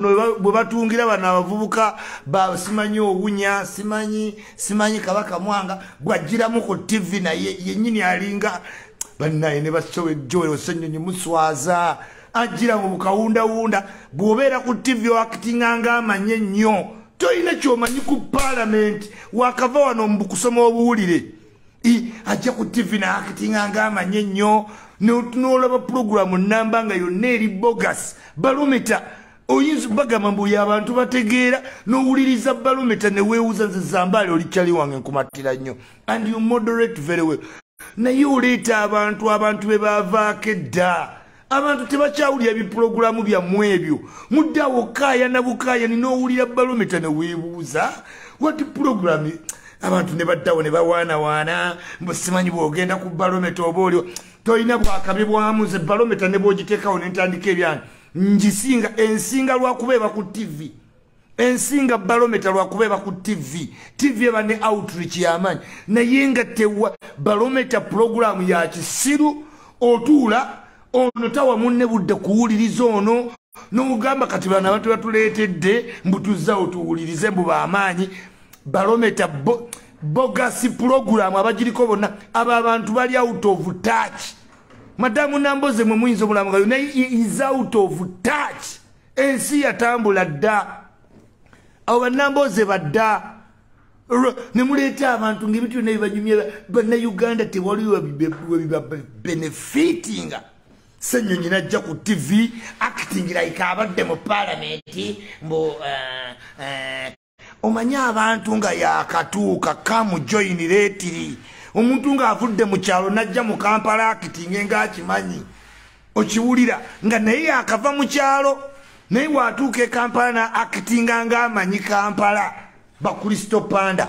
bwe batungira bano abavubuka simanyi owunya simanyi simanyi kabaka mwanga bwajjiramu ku tivi naye yenyini alinga bannaye ne basowejoel osenyonyi muswaza ajjira mu bukawundawunda bw'obeera ku tivi oakitinga ng'amanyi ennyo tolina kyomanyi ku paalamenti wakava wano mu kusoma obuwulire ajja ku tivi naakitinga nga amanye nnyo notunolaba pulogulamu namba nga yonna eri bogas balumita oyinza bagamba mbu oyo abantu bategeera nowuliriza balumita newewuza nze zambaali olikyali wange nkumattira nnyo and you moderate very well naye oleeta abantu abantu be baavaako edda abantu tebakyawulira bipulogulaamu byammwe ebyo mudde awo kaayana bukaayani n'owulira balometa ne weebuuza wati pulogulaamu abantu ne baddawo ne bawaanawaana mbu simanyi bw'ogenda ku balometa oba olio tolina bwakabi bwamu ze balometa ne bwogiteekawo ne ntandika ebyange ngisinga ensinga lwakuba eba ku tivi ensinga balometa lwakuba eba ku tv tv eba ne outreach yamanyi naye nga tewa balometa pulogulaamu ya kisiru otuula ono tawa munne budde kuwuliriza ono nogamba kati bano abantu batuleetedde mbutuzza otuwulirize mbu bamaanyi balometa bo, bogasi pulogulaamu abagiriko bonna abo abantu bali out of touch madamu namboze mwe muyinza omulamugayo naye is out of touch ensi yatambula dda abo banambooze badda ne muleeta abantu ngaebintu byonna bibanyumya bannayuganda tewali webibabenefitinga senyonyi najja ku tv acting like abadde mu palamenti mbu eh, eh, omanyi abantu nga yakatuuka kamu joini letiri omuntu ng'avudde mu kyalo n'ajja mu kampala akitinge ng'akimanyi okiwulira nga naye yakava mu kyalo naye waatuuka e kampala na akitinga ng'amanyi kampala bakulisito panda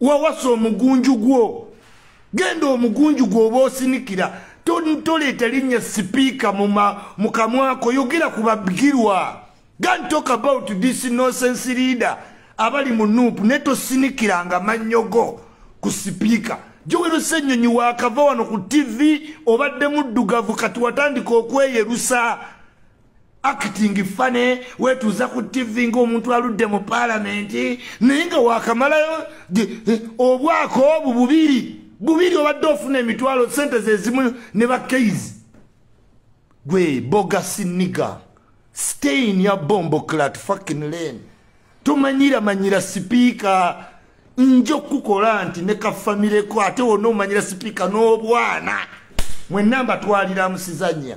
wawasa omugunju gwo genda omugunju gwoba osinikira toleeta linnya sipiika mu kamwako yogera ku babgirwa gan talk about this nosense leader abali mu nuupu naye tosinikiranga mannyo go ku sipiika jowerusa ennyonyi waakava wano ku tivi obadde muddugavu kati watandika okweyerusa acting fane wetuuza ku tv ngaomuntu aludde mu palamenti naye nga wakamalayo eh, obwako obu bubiri bubiri obadde ofuna emitwalo sente zezimu ne bakeizi gwe bogasiniga stain ya bombo clat fakin lane tomanyira manyira sipiika nja okukukola nti ne kafamileko ate wona omanyira sipiika n'obwana mwenna mbatwalira musizanya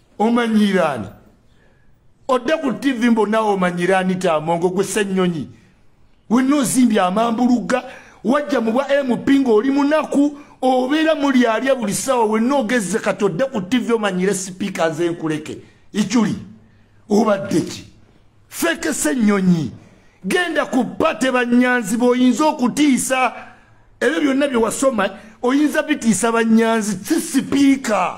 omanyiiraani odde ku tivi mbonawe omanyiiraani tamongo gwe sennyonyi wenna ozimbye amambulugga wajja mu bwa mp ng'oli munaku obeera mulyalya buli ssaawa wenna ogezze kati odde ku tivi omanyire sipiika nze nkuleke ikyuli obadde ki fekese ennyonyi genda ku pate bannyanzi b'oyinza okutiisa ebyo byonna bye wasoma oyinza bitiisa bannyanzi si sipiika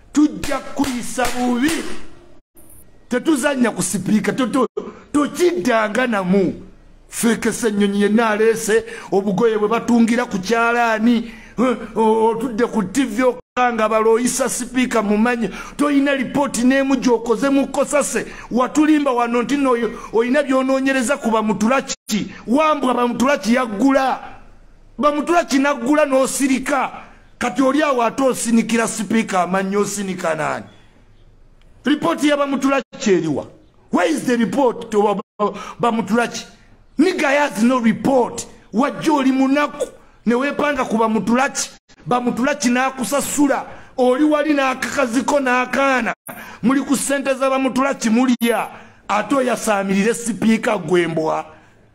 tujja kuyisa bubi tetuzanya ku sipiika tokiddanga namu fekesa ennyonyi yenna aleese obugoye bwe batungira ku kyalaani otudde ku tivi okanga balooyisa sipiika mumanyi tolina lipooti n'emu gyokoze mu kosase watulimba wano nti no olina byonoonyereza ku bamutulaki wambwa bamutulaki yaggula bamutulaki naggula n'osirika kati oli awo ate osinikira sipiika amannyi osinika naani ripooti yabamutulaki eriwa where is the report to bamutulaki niga has no report wajja oli munaku newepanga ku bamutulaki bamutulaki nakusasula oli wali nakakaziko nakaana muli ku sente za bamutulaki mulya ate oyasamirire sipiika gwembwa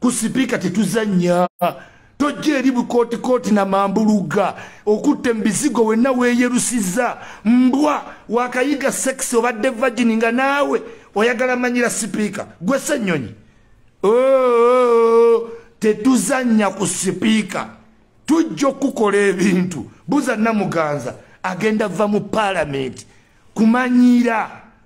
ku sipiika tetuzannya tojja eri bukootikooti na mambuluga okutte mu bizigo wenna weeyerusizza mbwa wakayiga sekisi obadde vagini nga naawe oyagala manyira sipiika gwe sennyonyi oh, oh, oh, tetuzannya ku sipiika tujja okukola ebintu buza namuganza agenda va mu paalamenti kumanyira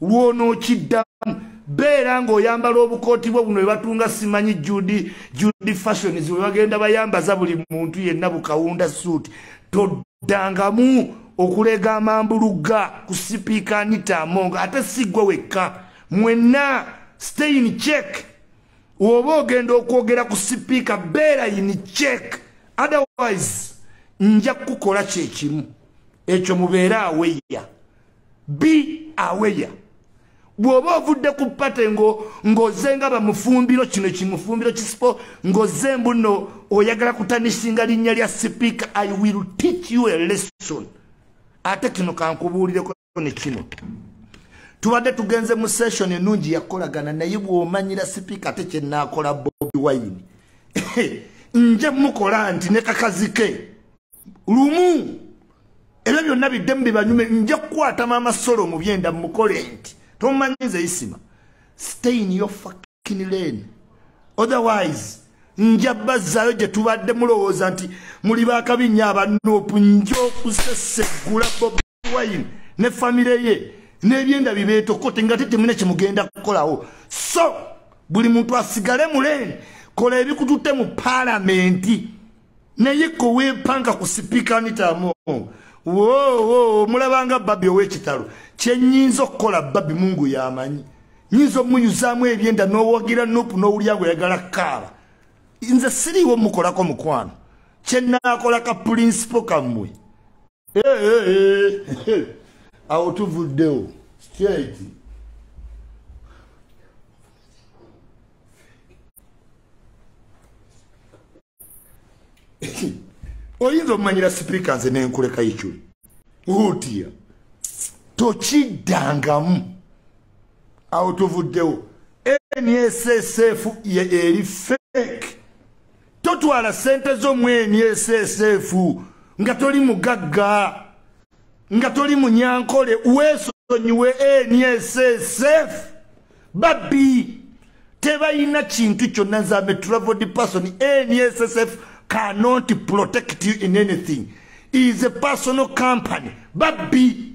lw'onookiddamu beera ng'oyambala obukooti bwo buno webatunga simanyi judi judi fashions webagenda bayambaza buli muntu yenna bukawunda suuti toddangamu okulega amambulugga ku sipiika anita amonga ate siggwe wekka mwenna stein check oba ogenda okwogera ku sipiika beera yini check otherwise nja kukukola kyekimu ekyo mubeere aweya be aware bwoba ovudde ku pate ngoze nga bamufumbiro kino kimufumbiro kisipo ngoze mbuno oyagala kutanisinga linnya lya sipiika i will teach you a lesson ate kino kankubuulireko ne kino tubadde tugenze mu session enungi yakolagana naye bwomanyira sipiika ate kyenakola bobi wine nja mukola nti nekakazike lumu ebyo byonna biddemu bibanyume nja kukwata maama solo mu byenda mukole nti tomanyiza isima stay in your fucking lane otherwise nja bazzaayo gye tubadde mulowooza nti muli bakabi nnyo abanoopu nja okusesegula bob wine ne famire ye n'ebyenda bibeetokote nga tetemune kyemugenda kukolawo so buli muntu asigale muleeni kola ebikututte mu paalamenti naye koweepanka ku sipiika nitamu wowo mulabanga babi ow'ekitalo kyenyinza okukola babi mungu yamanyi nyinza omuyuzaamu ebyenda n'owagira nupu n'owulya nga oyagala kaaba nze siriiwo mukolako mukwano kyenaakola ka pulinsipo kammwe awo tuvuddewo straight oyinza omumanyira sipiika nze nenkuleka ikyuli utiya tokiddangamu awo tuvuddewo nssf eri fake totwala sente zo mweni esesefu nga toli mugagga nga toli munyankole wesonyiwe eni esesefu babbi tebayina kintu kyonna nzambe traveled person eni esesefu cannot protect you in anything is a personal company babbi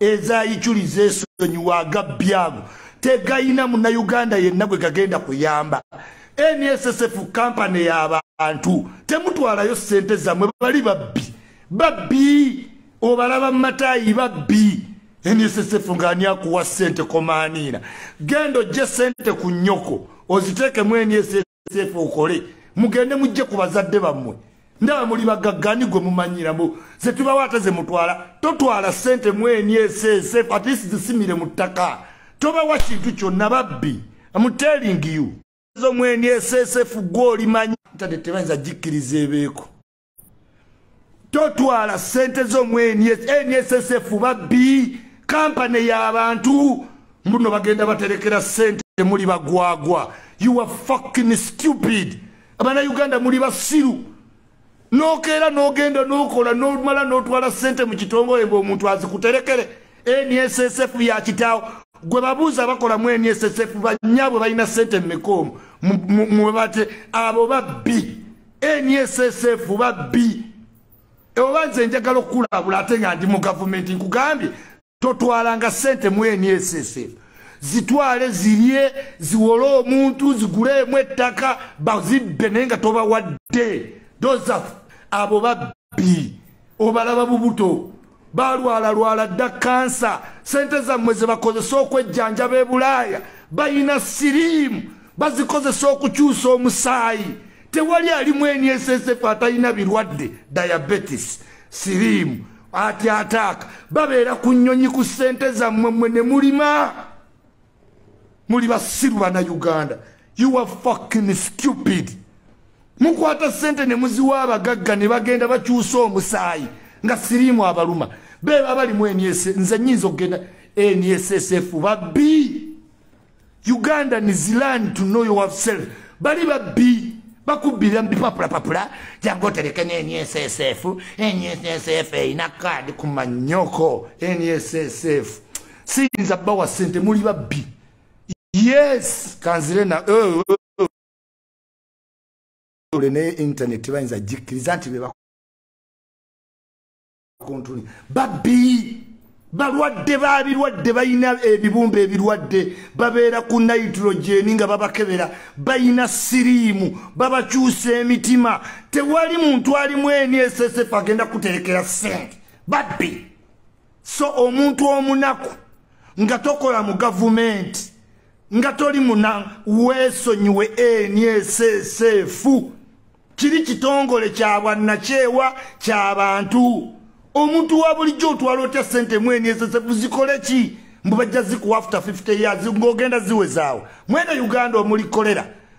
ezayiculiza esonyiwa agabbyago tegayina munauganda yenna gwe gagenda kuyamba nssf kampany y'abantu temutwalayo ssente zammwe bali babbi babbi obalaba mu mataayi babbi nssf ng'ani akuwa ssente komaaniira genda ojje ssente ku nnyoko oziteekemu nss sefu okole mugende mujje ku bazadde bammwe ndaba muli bagaggani gwe mumanyiramu ze tubawo ate ze mutwala totwala ssente mweni esesefu at least zisimire mu ttaka tobawa kintu kyonna babbi amutelingiyo zo mweni esesefu gwe olimanyi ntade tebayinza gikkiriza ebeeko totwala sente zo mu nssf babbi kampani yabantu mbuno bagenda baterekera sente muli bagwagwa you are fucking stupid abana uganda muli basiru nokeera nogenda nokola nomala notwala sente mu kitongole mbu omuntu azikuterekere nssf yakitaawo gwe babuuza bakola mu nssf banyabwe balina sente mumekoomu mwebate abo babbi nssf babbi oba nze njagala okukulabula ate nga ndi mu gavumenti nkugambye totwalanga sente mu nssf zitwale zirye ziwole omuntu ziguleemu ettaka bazibbe naye nga tobawadde doza abo babbi obalaba bubuto balwalalwala dda kansa sente zammwe zebakozesa okwejjanjaba ebulaaya balina siriimu bazikozesa okukyusa omusaayi tewali alimu ensf atalina birwadde diabetis siriimu ati ataaka babeera ku nnyonyi ku sente zammwe mmwe ne mulima muli basiru bana uganda you are fucking stupid mukwata sente ne muziwa abagagga ne bagenda bakyusa omusaayi nga siriimu abaluma beba balimu eniese nze nyinza okugenda eniesesf babbi uganda is land to know yourself bali babbi bakubbira mubipapulapapula jangu otereke neniesesf eniesesf erina kaadi kumanyoko eniesesf siyinza bawa sente muli babbi yes kanzire na eh, eh, eh. ne internet tebayinza gikkiriza nti beba kontuni babbi balwadde babirwadde balina ebibumba ebirwadde babeera ku nitrogeni nga babakebera balina siriimu babakyusa emitima tewali muntu alimu eni esesef agenda kuterekera sente babbi so omuntu omunaku nga tokola mu gavumenti nga toli muna weesonyiwe enieseseefu kiri kitongole kya bwannakyewa kya bantu omuntu wa bulijjo otwala otya sente mu enieseseefu zikole ki mbu bajja zikuwa after 50 years ng'ogenda ziwezaawo mwene uganda omulikolera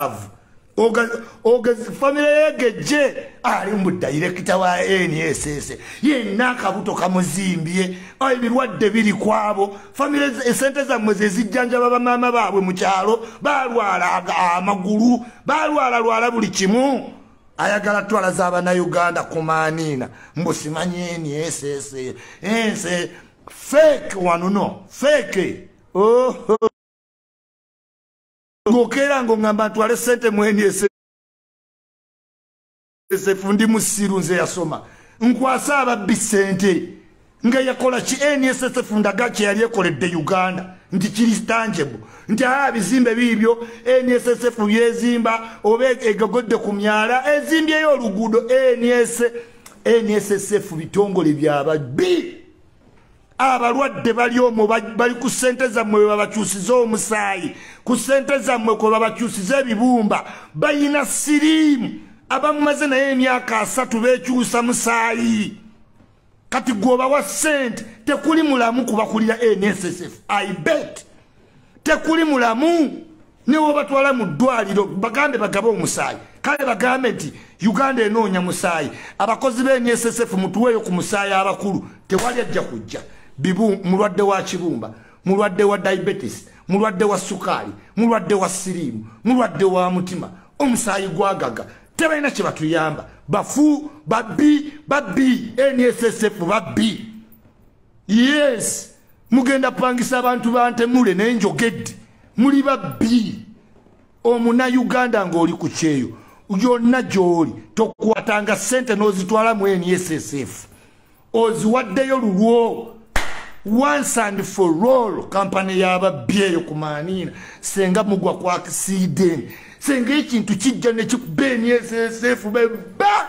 love ogezi famire yegejje ali mu dayirekita wa nss yenna akabuto kamuzimbye ebirwadde biri kwabo famire esente zammwe zezijjanjaba bamaama baabwe mu kyalo balwala amagulu balwala lwala buli kimu ayagala twala za banauganda kumaniina mbusimanye nss ense fake wanuno fake oh. ngokeera ngo ngamba ntwale sente mweni ese esefu ndi musiru nze yasoma nkwasa ababbi sente nga yakola ki nssf ndaga kyeyali ekoledde uganda nti kiri tangebu nti aa bizimbe biibyo nssf byezimba oba egogodde ku myala ezimbyeyo oluguudo nssf bitongole byababbi abalwadde bali omwo bali ku ssente zammwe bebabakyusiza omusaayi ku ssente zammwe kwe babakyusiza ebibumba bayina siriimu abamumaze naye emyaka asatu bekyusa musaayi kati gwobawa ssente tekuli mulamu kubakulira nssf i bet tekuli mulamu newobatwala mu ddwaliro bagambe bagabe omusaayi kale bagambe nti uganda enoonya musaayi abakozi bensf mutuweeyo ku musaayi abakulu tewali ajja kujja bibu mulwadde wa kibumba mulwadde wa diabetes mulwadde wa sukaali mulwadde wa siriimu mulwadde wa mutima omusaayi gwagaga tebalina kye batuyamba bafu babbi babbi nsf babbi yes mugenda pangisa abantu bantemule naye njogedde muli babbi omuna uganda ng'oli ku kyeyo yonna gy'oli tokwatanga ssente n'ozitwala mu nssf oziwaddeyo lulwo once and for all kampani y'ababbi eyo ku maaniina senga mugwa ku akisiideni senga ekintu kijja ne kikuba nssf bebba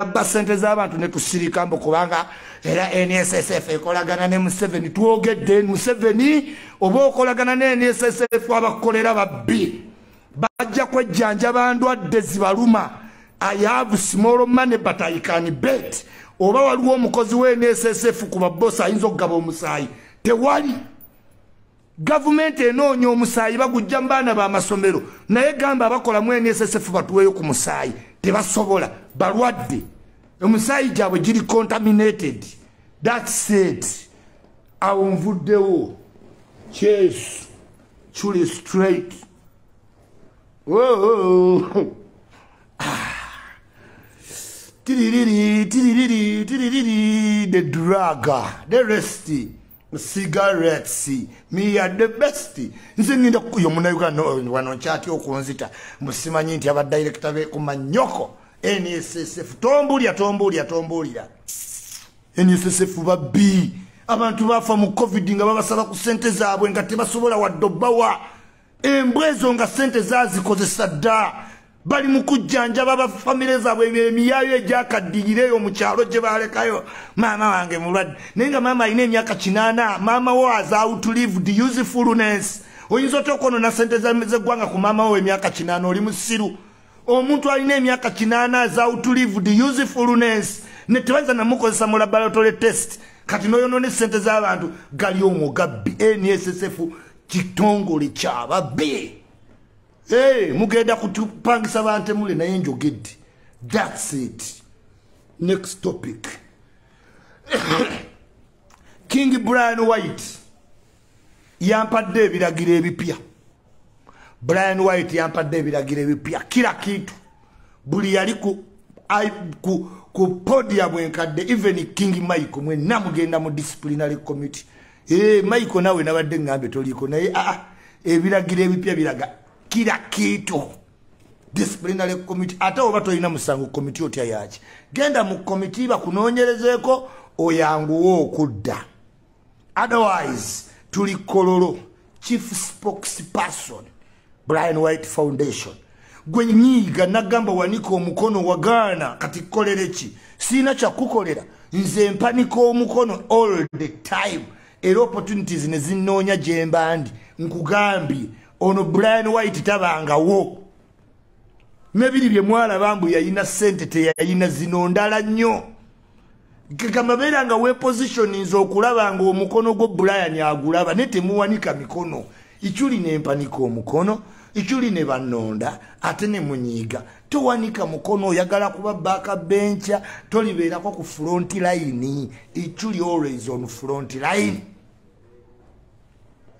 abba sente z'abantu ne tusirika mbu kubanga era nssf ekolagana ne museveni twogedde museveni oba okolagana ne nssf abakolera babbi bajja kwejjanjaba ndwadde zibaluma i have small money but i can bet oba waliwo omukozi wa nssf ku babbosi ayinza okugaba omusaayi tewali Gavumenti enoonya omusaayi bagujja mu baana b'amasomero naye gamba abakola mu NSSF batuweeyo ku musaayi tebasobola balwadde omusaayi gyabwe giri contaminated that's it awo nvuddewo kyesu kuli straight tiririri tiririri tiririri the draga the resty cigarettes me are the best nze ninda kuyo muna uganda wano chati okunzita musimanyi nti aba director be kuma nyoko NSSF tombulya tombulya tombulya NSSF ba B abantu bafa mu covid nga babasaba ku sente zaabwe nga tebasobola waddo bawa embwa ezo nga sente zazikozesa dda bali mu kujjanjaba ba famire zaabwe emiyayo egyakaddiyireeyo mu kyalo gye baalekayo maama wange mulwadde naye nga maama alina emyaka kinaana maama wo azautulived usefulness oyinza otya okwonona sente zeggwanga ku maama wo emyaka kinaana oli musiru omuntu alina emyaka kinaana azautulived usefulness ne tebayinza namukozesa mu laboratory test kati noyonona esente z'abantu gali omugabbi nssf kitongole kyababbi eh, mugenda kutupangisa bantemule naye njogedde thats it next topic king brian white yampadde ebiragiro ebipya brian white yampadde ebiragiro ebipya kila kintu buli yali ku, ku, ku podia bwenkadde even king mike mwenna mugenda mu disciplinary committee Hey, Michael nawe nabadde ngambe toliko naye ah, ah ebiragiro ebipya biraga kira kiito disciplinary committee ate oba tolina musango committee otya yaki genda mu committee bakunoonyerezeeko oyanguwa okudda otherwise tuli kololo chief spokesperson brian white foundation gwe nyiiga nagamba wanika omukono wagaana kati kukolere ki siina kyakukolera nze mpanika omukono all the time era opportunities ne zinnoonya gye mba ndi nkugambye ono brian white tabangawo nebiri bye mwalaba mbu yayina ssente teyayina zino ndala nnyo kigamba beera nga wepositioninza okulaba nga omukono gwo brian agulaba naye temuwanika mikono ikyuli nempanika omukono ikyuli ne banonda ate ne munyiiga towanika mukono oyagala kuba baaka benkya tolibeerako ku front line ikyuli always on front line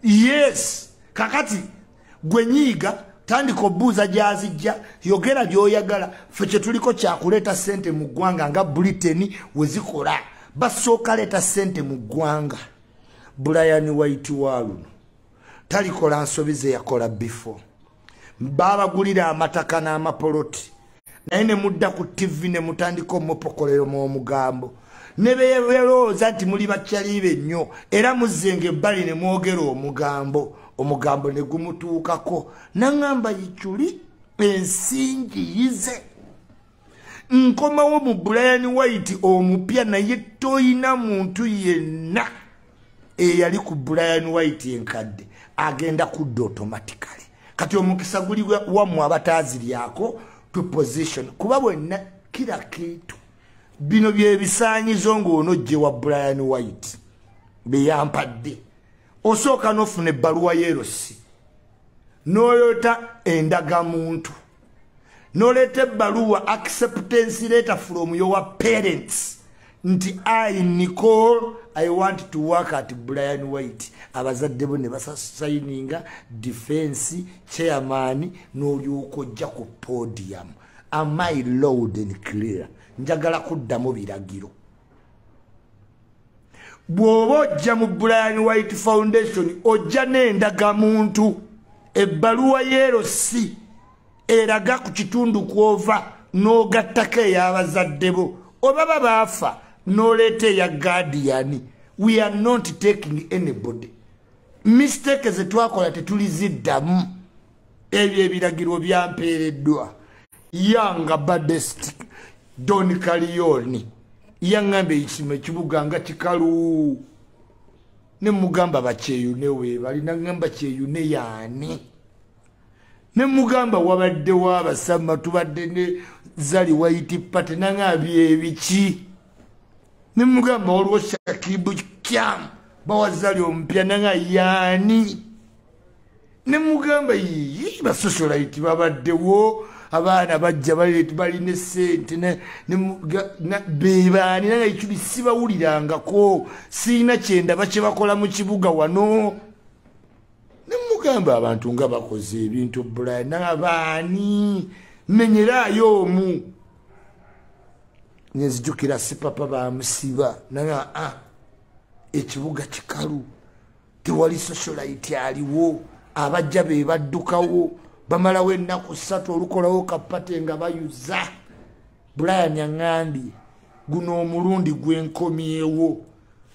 yes kakati gwe nyiiga tandika obuuza gyazijja yogera byoyagala fe kyetuliko kyakuleeta sente mu ggwanga nga briteni wezikola basooka leeta sente mu ggwanga brian white waluno talikola nsobi zeyakola before babagulira amataka n'amapoloti naye ne mudda ku ttivi ne mutandika omupokolero mu omugambo ne beerowooza nti muli bakyaliibe nnyo era muzzenga ebbali ne mwogera omugambo omugambo ne gumutuukako naŋŋamba yikyuli ensingi yize nkomawo mu brian white omupya naye toyina muntu yenna eyali ku brian white enkadde agenda kudda automatically kati omukisa guli wamwe abataziryako to position kuba bwenna kira kintu bino byebisanyizo ngaono jje wa brian white beyampadde osooka nofuna ebbaluwa yerosi noyota endagamuntu noleeta ebbaluwa acceptance letter from your parents nti i nicole i want to work at brian white abazadde bo ne basasayininga defense chairman n'olyoka ojja ku podium am i loud and clear njagala kuddamu biragiro bw'oba ojja mu brian white foundation ojja n'endagamuntu ebbaluwa yeerosi eraga ku kitundu kw'ova n'ogattako ey'abazadde bo oba ba baafa n'oleeta eya gaadiyani we are not taking anybody mistake ze twakola tetuliziddamu ebyo ebiragiro byampeereddwa yanga badest don kaliyoni yaŋŋamba ekisima ekibuga nga kikalu ne mugamba bakyeyune weebali naŋŋamba kyeyune yaani ne mugamba wabadde wabasama tubadde ne zali waiti pate naŋa byebiki ne mugamba waliwo shakibu kyamu bawazali omupya naŋa yaani ne mugamba yiyi basosolaiti babaddewo abaana bajja balina esente bebaani naye ekibi sibawulirangako siina kyendaba kyebakola mu kibuga wano nemugamba abantu nga bakoze ebintu bula nabaani menyeraayo omu nenzijukira sipapa bamusiba naye a ah, ekibuga kikalu tewali socialite aliwo abajja be baddukawo bamalawo ennaku ssatu olukolawo kapate nga bayuza brian aŋambye guno omulundi gwenkomyewo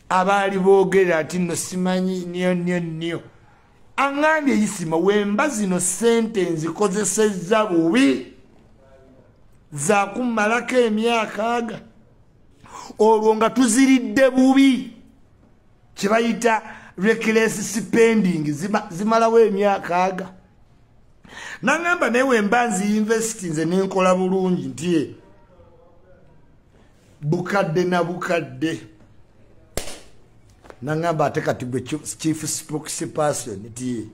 abaali boogera ati no simanyi nyo nyo nyo aŋambye isima wemba zino ssente nzikozesezza bubi zakummalako emyakaaga olwo nga tuziridde bubi kyebayita reckless spending zimalawo emyaka aga nangamba naye wemba nzi investi nze nenkola bulungi nti e bukadde na bukadde nangamba ate kati gwe chief spokesperson nti e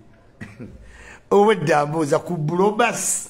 obwedda mbuuza ku bulobasi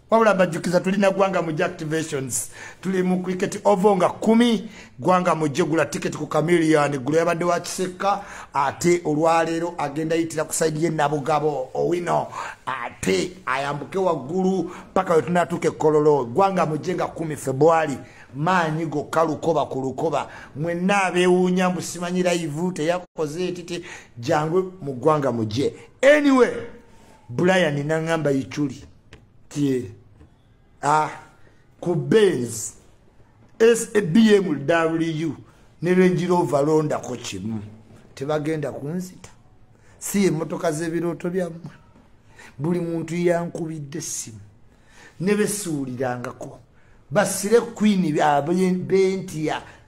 wabula mbajjukiza tulina gwanga mujje activations tuli mu cricket ovo nga kumi gwanga mujje gula ticket ku camilian gula yabadde wa kisekka ate olwaleero agenda yitira ku saidi ye nabugabo owino ate ayambuke waggulu paka we tunatuuka ekkololo gwanga mujje nga kumi februari maanyi gokka lukoba ku lukoba mwenna abewuunya musimanyira ivu teyakoze etiti jangu mu gwanga mujje anyway brian nangamba ichuli tie ah ku benz sabm w ne range rover londa ko kimu tebagenda kunzita si emotoka z'ebirooto byammwe buli muntu yankubidde essimu ne besuulirangako basire kwini bentya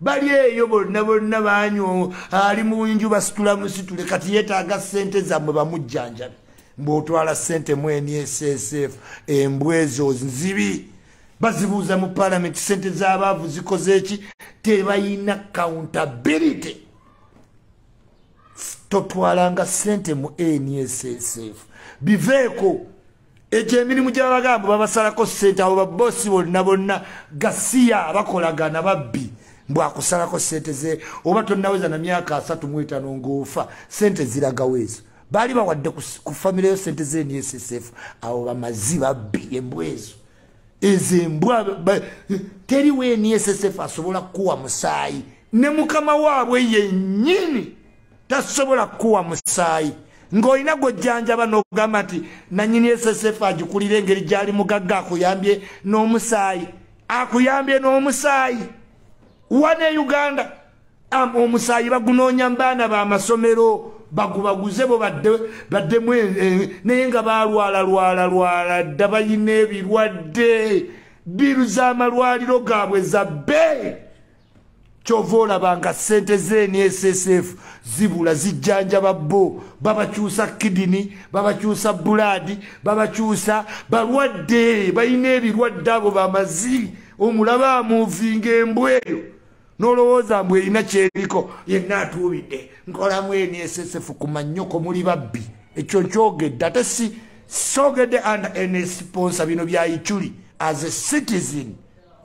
bali eyo bonna bonna banyo ali mu nju basitula musitule kati yetaaga sente zammwe bamujjanjabi mbwotwala sente mweni esesf embwa ezo nzibi bazibuuza mu palamenti sente z'abaavu zikoze eki tebayina countability totwalanga sente mu nssf biveeko egyo emirimu gyabagambo babasalako sente abo babosi bonna bonna gasiya bakolagana babbi mbwakusalako sente ze oba tonaweza na myaka asatu mwetano ngaofa sente ziragawo ezo baali bawadde ku famire yo sente ze nssf abo bamazi babbi embwa ezo ezo embwa teriwo nssf asobola kukuwa musaayi ne mukama waabwe yenyini tasobola kukuwa musaayi ng'olina gwojjanjaba n'ogamba nti nanyini ssf agikulira engeri gyali mugagga akuyambye n'omusaayi akuyambye n'omusaayi wane e uganda omusaayi bagunoonya mu baana b'amasomero bagubaguze bo baddemu e, e, naye nga balwala lwala lwala dda balina ebirwadde biru z'amalwaliro gaabwe za bbeeyi kyova olaba nga sente z'nssf zibula zijjanjaba bo babakyusa kidini babakyusa bulaadi babakyusa balwadde balina ebirwadde abo bamazi omulaba amuvinga embwa eyo nolowooza mbu erina kyeriko yenna atuubidde nkolamu nssf ku mannyoko muli babbi ekyo nkyogedde ate si sogedde and nsponsa bino bya ichuli as a citizen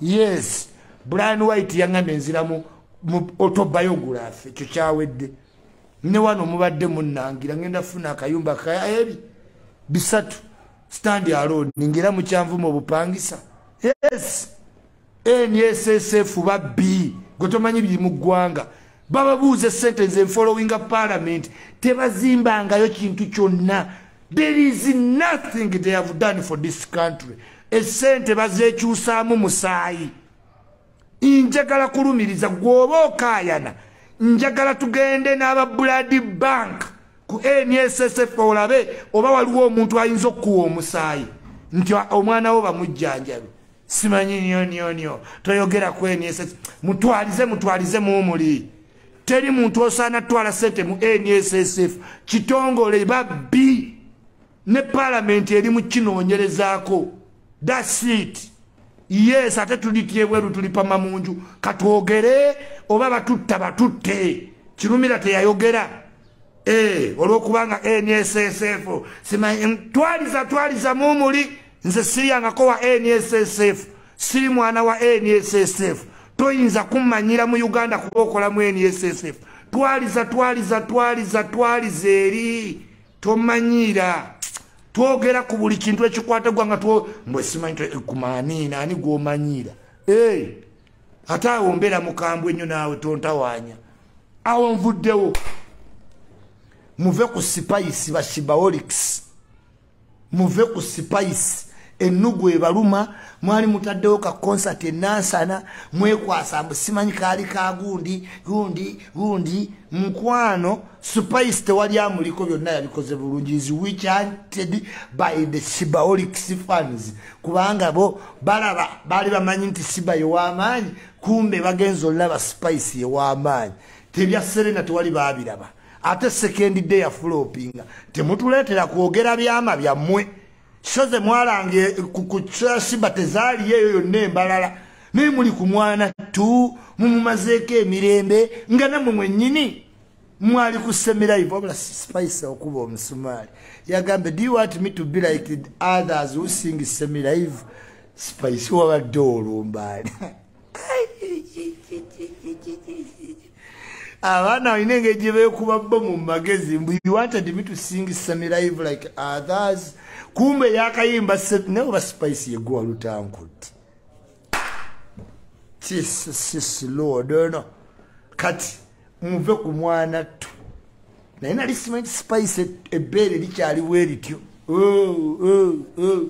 yes brian white yaŋŋambye nziramu otobayogulafe ekyo kyawedde ne wano mubadde munnangira ŋenda funa akayumba kaebi bisatu standi alod ngera mukyanvuma obupangisa yes nssf babbi gwe tomanyi biri mu ggwanga bababuuze sente nze nfollowinga parliament tebazimbangayo kintu kyonna there is nothing they have done for this country esente bazekyusaamu musaayi njagala kulumiriza gwoba okayana njagala tugende n'aba blood bank ku nssf olabe oba waliwo omuntu ayinza okukuwa omusaayi nti omwana wo bamujjanjabi simanyi nyo nyo nyo toyogera kwenyesa mutwalize mutwalize mumuli teri muntu osaana twala sente mu nssf kitongole babbi ne palamenti eri mukinoonyerezaako thats it yes ate tulityebweru tulipama mu nju katwogere oba batutta batutte kirumira teyayogera eh, olwokubanga nssf simanyi twaliza twaliza mumuli nze siryangako wa nssf siri mwana wa nssf toyinza kummanyira mu uganda kuba okola mu nssf twaliza twaliza twaliza twaliza eri tomanyiira twogera ku buli kintu ekikwata gwa nga mbwesimanyi eh, kumaniina ani gwomanyiira eh, ate awo mbeera mukambwe nnyo naawe tontawaanya awo nvuddewo muve ku sipayisi bashibawolics muve ku sipayisi ennugu ebaluma mwali mutaddewo ka konsati enansana mwekwasa mbu simanyi kaali ka gundi gundi gundi mukwano supayisi tewali amuliko byonna yabikoze bulungi is wichanted by the sibaolic sifans kubanga bo balaba baali bamanyi nti siba yewamaanyi kumbe bagenza olulaba supayisi yewamaanyi tebya serena tewali baabiraba ate sekendi de yafulopinga temutuleetera kwogera byama byammwe so ze mwalanga eh, kusimba tezaaliyo eyo yonna embalala naye muli ku mwana tu mumumazeeko emirembe nga nammwe mwennyini mwali ku semiraivu wabula spice okuba omusumaali yagambe do you want me to be like others who sing semiraivu spice wabadde olumbaali abaana balina engeri gye beekuba bo mu magezi mbu you wanted me to sing semi live like others kumbe yakayimba naye oba spice yeguwa lutankuti jesus lord ono kati muve ku mwana ttu naye nali simanyi spice ebbeere likyaliwo erityo oh, oh, oh.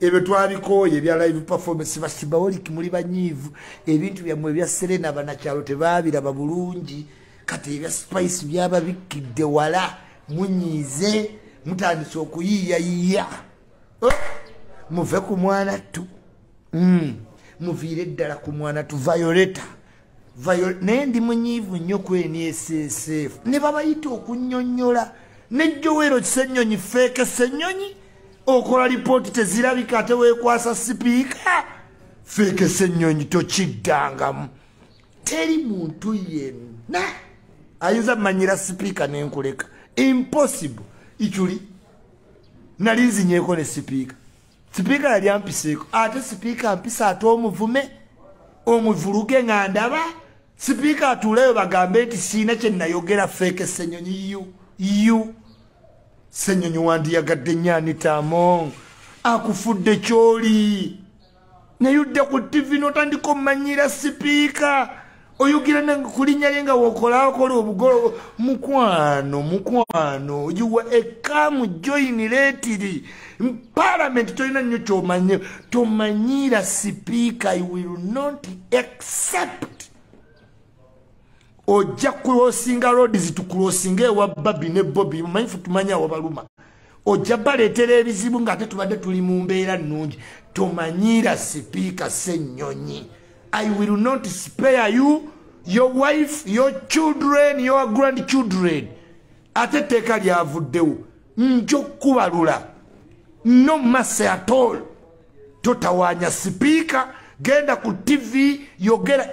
ebyo twabikooye ebya live performance basibaoliki muli banyiivu ebintu byammwe ebya serena banakyalo tebaabiraba bulungi kati ebya spice byababikkidde wala munyiize mutandise okuyiiyayiiya oh! muve ku mwana ttu hmm. muviire ddala ku mwana tu violeta naye ndi munyiivu nnyo ku nssf ne babayita okunyonyola ne jowero kisenyonyi feeke senyonyi okola lipooti tezirabika ate wekwasa sipiika feeke senyonyi tokiddangamu teri muntu yenna ayinza manyira sipiika nenkuleka impossible ikyuli nali nzinyeko ne sipiika sipiika yali ampiseeko ate sipiika ampisa ate omuvume omuvuluge nga ndaba sipiika atuuleyo bagambe nti siina kye nayogera feeke senyonyi yu yu senyonyi wandiyagadde nyanitaamong akufudde kyoli naye odda ku tivi notandika omanyira sipiika oyogera nange kulinya lye nga wokolakola obugolo mukwano mukwano yuwa ekamu joini letiri palamenti tolina nnyo kyomanye tomanyiira sipiika i will not accept ojja kulosinga roads tukulosinga ewa babi ne bobi mumanyi fe tumanyi awabaluma ojja baleetera ebizibu ng'ate tubadde tuli mu mbeera nnungi tomanyiira sipiika ssennyonyi i will not spare you your wife your children your grand children ate etteeka lyavuddewo nja okukubalula no masse at all totawanya sipiika genda ku tv yogera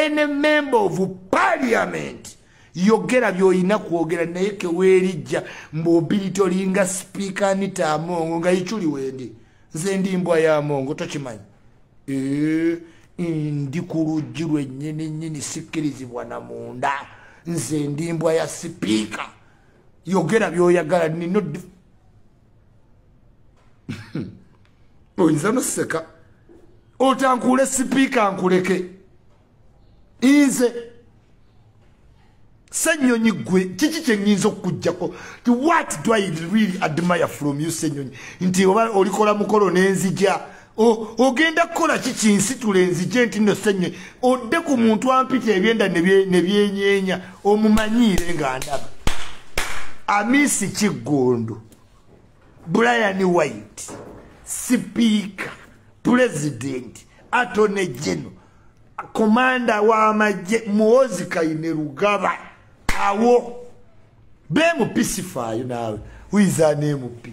any member of parliament yogera byoyina kwogera naye kewerijja mbuobiri tolinga sipiika anita amongo nga ichuli wendi nze ndi mbwa ya amongo tokimanyi eh, ndi ku luggi lwennyini nyini sikkirizibwa na munda nze ndi mbwa ya sipiika yogera byoyagala nino oyinza noseka otankuule sipiika nkuleke inze senyonyi gwe kiki kyenyinza okukujjako ti what do i really admire from you senyonyi nti oba olikola mukolo nenzija ogenda kukola ki kinsitula enzije nti no senye odde ku muntu ampita ebyenda ne byenyenya omumanyiire nga ndaba amisi kiggundu brian white sipiika pulezidenti atone geno komanda w'amagye muwozi kayine lugaba awo bemupisifaayo naawe wiiza nemupi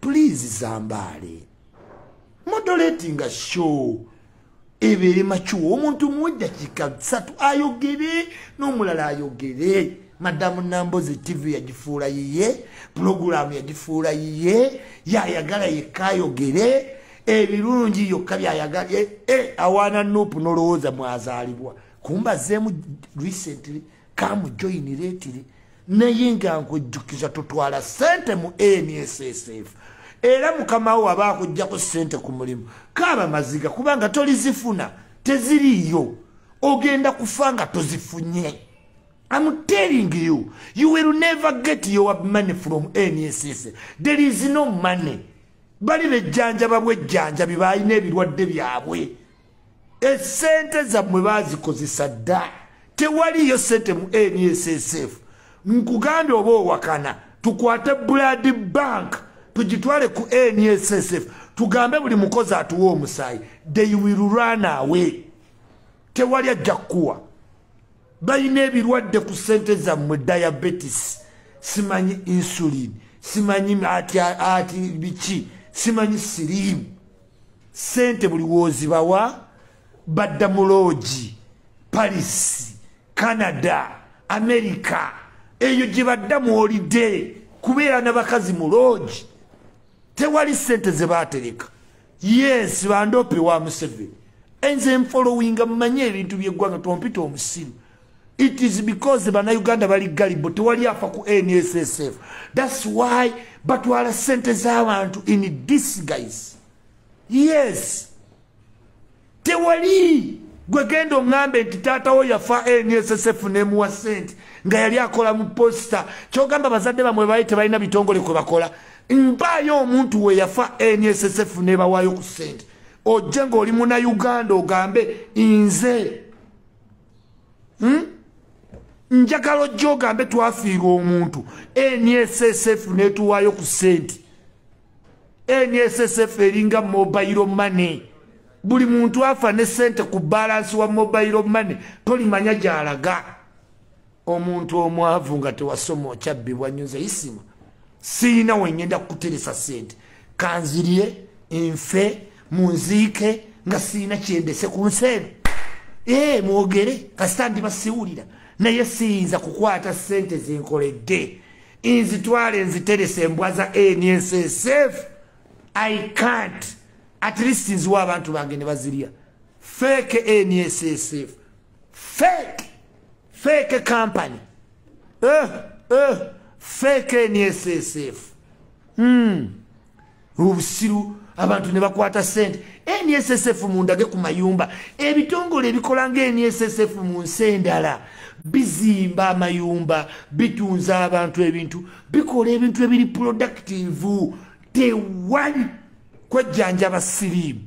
please zambaale moderatinga show ebeere makiwa omuntu muweddakiika bisatu ayogere n'omulala ayogere madamu nambozi tv yagifuula yiye pulogulaamu yagifuula yiye yayagala yekka ayogere ebirungi yokka byayagala e, e, awaana nupu nolowooza mwazaalibwa kumbazeemu recently kamujoyiniretire naye nga nkujjukiza tutwala sente mu nssf era mukama wo aba akuggyako sente ku mulimu kaaba maziga kubanga tolizifuna teziriiyo ogenda kufa nga tozifunye I'm telling you, you will never get your money from NSS. There is no money. Bali ne janja babwe janja bibayi ne bilwadde byabwe. esente zammwe bazikozesa dda tewaliyo sente mu nssf nkugambye oba owakana tukwate blood bank tugitwale ku nssf tugambe buli mukozi atuwa omusaayi they will run away tewali ajja kukuwa balina ebirwadde ku sente zammwe diabetes simanyi insulin simanyi ati biki simanyi siriimu sente buli wozibawa badda muloogi paris canada america eyo gyebadda mwolidde kubeera nabakazi muloogi tewali sente zebatereka yes bandope wa museveni enze nfolowinga mumanye ebintu byeggwanga tompita omusimu it is because banauganda bali galibo tewali afa ku nssf thats why batwala sente z'abantu in disguise yes tewali gwegenda oŋambe nti taatawo yafa nssf nemuwa sente nga yali akola mu posita kyogamba bazadde bamwe bali tebalina bitongole kwe bakola mpaayo omuntu we yafa nssf nebawaayo ku sente ojje ng'oli munauganda ogambe nze hmm? njagala ojja ogambe twafiirwa omuntu nssf netuwaayo ku sente nssf eringa mobile money buli muntu afa ne sente ku balansi wa mobile money tolimanya gyalaga omuntu omwavu nga tewasoma okyabbibwa nyo nze isima siina wengenda kukuteresa sente kanzirye nfe munziike nga siina kyendese ku nsi eno ee mwogere kasita ndi basiwulira naye siyinza kukwata sente zenkoledde nzitwale nziterese embwa za nssf i can't at least nziwa abantu bange ne bazirya feke nssf fake fake company eh, eh, fake nssf mm. obusiru abantu ne bakwata sente nssf mundage ku mayumba ebitongole ebikola nga nssf mu nsi endala bizimba amayumba bitunza abantu ebintu bikola ebintu ebiri productive tewali kwejjanjaba siriimu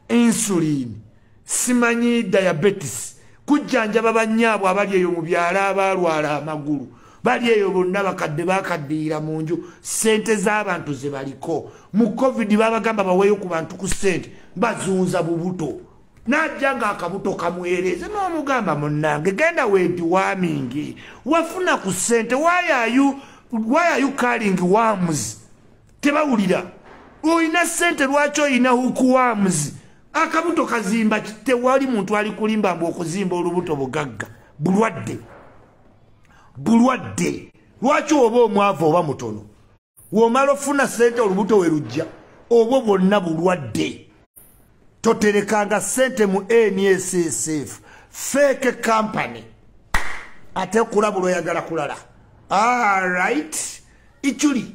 insulin simanyi diabetes kujjanjaba bannyaabwe abali eyo mu byalo abaalwala amagulu bali eyo bonna bakadde bakaddiira mu nju ssente z'abantu ze baliko mu covid babagamba baweeyo ku bantu ku ssente bazunza bubuto n'ajja ng'akabuto kamwereeze n'omugamba munnange genda weediwamingi wafuna ku ssente wayayu wayayu kalingi wamuzi tebawulira olina sente lwaki olina hukuwamuzi akabuto kazimba tewali muntu ali kulimba mbu okuzimba olubuto bugagga bulwadde bulwadde lwaki oba omwavu oba mutono womala ofuna sente olubuto we lujja obwo bwonna bulwadde toterekanga sente mu nssf fake company ate kulabula oyagala kulala alright ichuli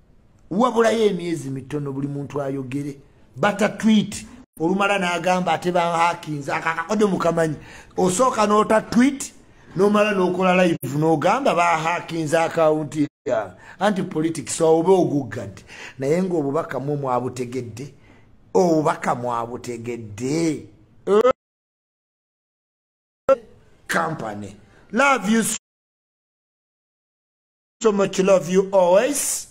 wabulayo emyezi mitono buli muntu ayogere bata twit olumala nagamba ate bahakinze akakakode mukamanyi osooka nota twit nomala nokola live nogamba bahakinze akawunti yange anti politics oba oguggadi naye nga obubaka mwe mwabutegedde obubaka mwabutegedde company love you so much love you always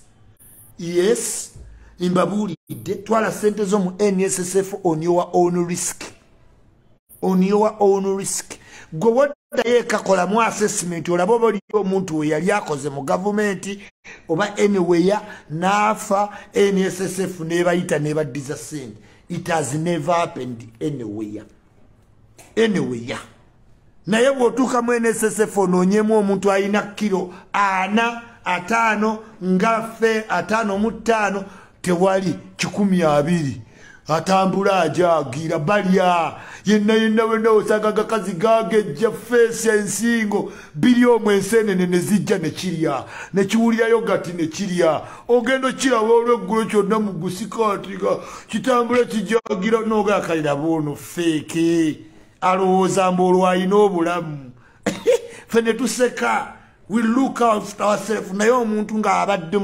yes mbabuulidde twala sente zo mu nssf on your own risk on your own risk gwe woddayo ekakolamu assessment olaba oba oli omuntu we yali akoze mu gavumenti oba anywhere n'afa nssf nebayita nebaddiza sente it has never happened anywhere anyway ya naye bw'otuuka mu nssf onoonyemu omuntu alina kiro ana ataano nga fe ataano mu ttaano tewali kikumi abiri atambula ajagira balya yenna yenna wenna osanga gakazi gagejja feesi ensingo biri omwo enseenene ne zijja ne kirya ne kiwulirayo gati ne kirya ogenda okiraba olweggulo kyonna mu gusikaati nga kitambula kijagira nooga akaliraba ono feeke alowooza mbu olwo alina obulamu fe ne tuseka we look out ourself naye omuntu ng'abadde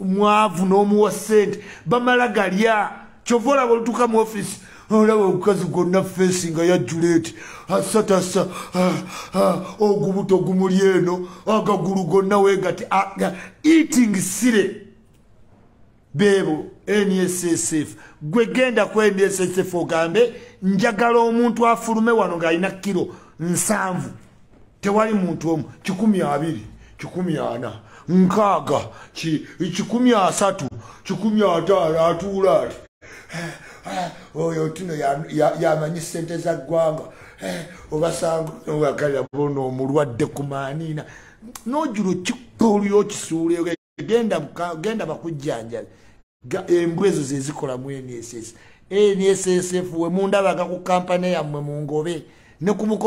mwavu n'omuwa ssente bamala galya kyova olaba olutuuka mu ofiisi olaba omukazi gwonna feesi nga yajjuleti asatasa ah, ah, ogubuto gumuli eno agagulu gonna wegati eating sire beebo nssf gwe genda ku nssf ogambe njagala omuntu afulume wano ng'alina kiro nsanvu tewali muntu omu kikumi abiri kikumi ana nkaaga kikumi asatu kikumi ataano atuula ati eh, eh, oyo tino yamanyi sente za ggwanga eh, obasanga nowagalira bona omulwadde ku maaniina nojula kikoliyo okisuuleyo genda bakujjanjabe embwa ezo zezikola mu nss nss wemundabaka ku kampani yammwe mungobe ne ku mukolo